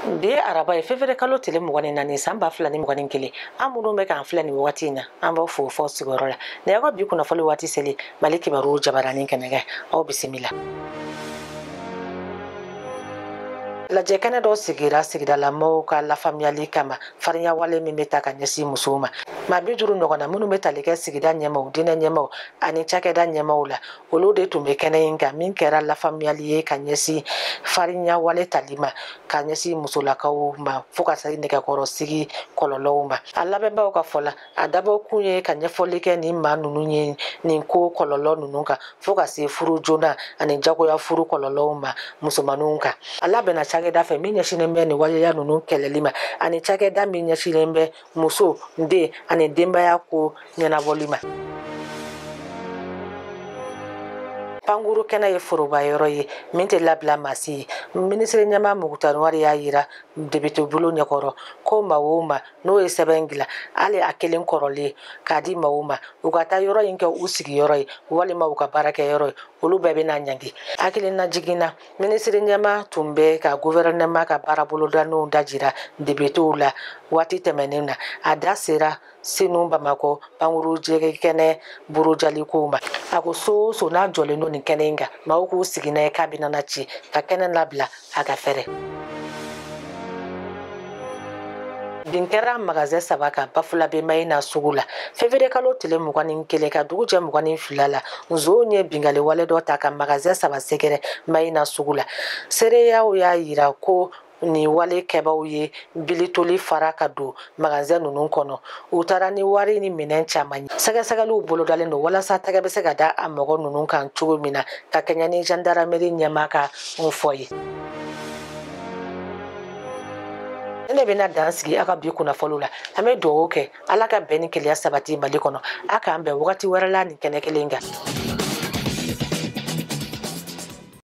bi ye araba ye fevriye kalo tile mugan ni naani san ba fila ni mugan ni kelen an minnu bɛ k'an filɛ nin wagati in na an b'aw fo f'aw sigiyɔrɔ la ne y'aw ka bi kunnafoli waati seli mali kibaruw jabaranin kɛnɛ kan aw bisimila lajɛ kɛnɛ dɔ sigira sigidala maaw ka lafaamuyali kama farinya wale min bɛ ta ka ɲɛsin musow ma maa bi duuru ɲɔgɔnna minnu bɛ tali kɛ sigida ɲɛmaaw diinɛ ɲɛmaaw ani cakɛda ɲɛmaaw la olu de tun bɛ kɛnɛ in kan min kɛra lafaamuyali ye ka ɲɛsin farinya wale tali ma ka ɲɛsin musolakaw ma fo ka se nɛgɛkɔrɔsigi kɔlɔlɔw ma a labɛnbaaw ka fɔ la a dabɔ kun ye ka ɲɛfɔli kɛ nin maa ninnu ye nin ko kɔlɔlɔ ninnu kan fo ka se furu joona ani jagoya furu kɔlɔlɔw ma musomaninw kan a labɛnna cakɛda fɛ min ɲɛsinnen bɛ nin waleya ninnu kɛlɛli ma ani cakɛda min ɲɛsinnen bɛ muso den ani denbaya ko ɲɛnabɔli ma pankuru kɛnɛ ye foroba yɔrɔ ye min tɛ labila maa si ye minisiri ɲɛmaa mukutari wani y'a yira depitebulon ɲɛkɔrɔ ko maa o maa n'o ye sɛbɛn dilan hali a kelen kɔrɔlen k'a di maaw ma u ka taa yɔrɔ in kɛ u sigiyɔrɔ ye walima u ka baarakɛ yɔrɔ ye olu bɛɛ bɛna ɲangi hakilina jiginna minisiri ɲɛmaa tun bɛ ka guvɛrɛnɛma ka baara bolodalenw dajira depitew la waati tɛmɛnen na a da sera senu bamakɔ pankuru jigin kɛnɛ burujalikow ma a ko so o so n'a jɔlen don nin kɛnɛ in kan maaw k'u sigi n'a ye k'a bɛna na ci ka kɛnɛ labila a ka fɛrɛ bin kɛra magazɛn saba kan bafulabe mayina sugu la fevriye kalo tile mugan ni kelen ka dugu jɛ mugan ni fila la nzonw ye binkali wale dɔ ta ka magazɛn saba sɛgɛrɛ mayina sugu la seereyaw y'a yira ko nin wale kɛbaw ye bili tɔli fara ka don magazɛn ninnu kɔnɔ u taara ni wari ni minɛn caman ye sɛgɛsɛgɛliw bolodalen don walasa tɛgɛ bɛ se ka da a mɔgɔ ninnu kan cogo min na ka kɛɲɛ ni jandarameri ɲɛmaa ka fɔ ye nin de bɛna dan sigi aw ka bi kunnafoliw la an bɛ dugawu kɛ ala ka bɛn ni kelenya sabati mali kɔnɔ a k'an bɛn wagati wɛrɛ la nin kɛnɛ kelen kan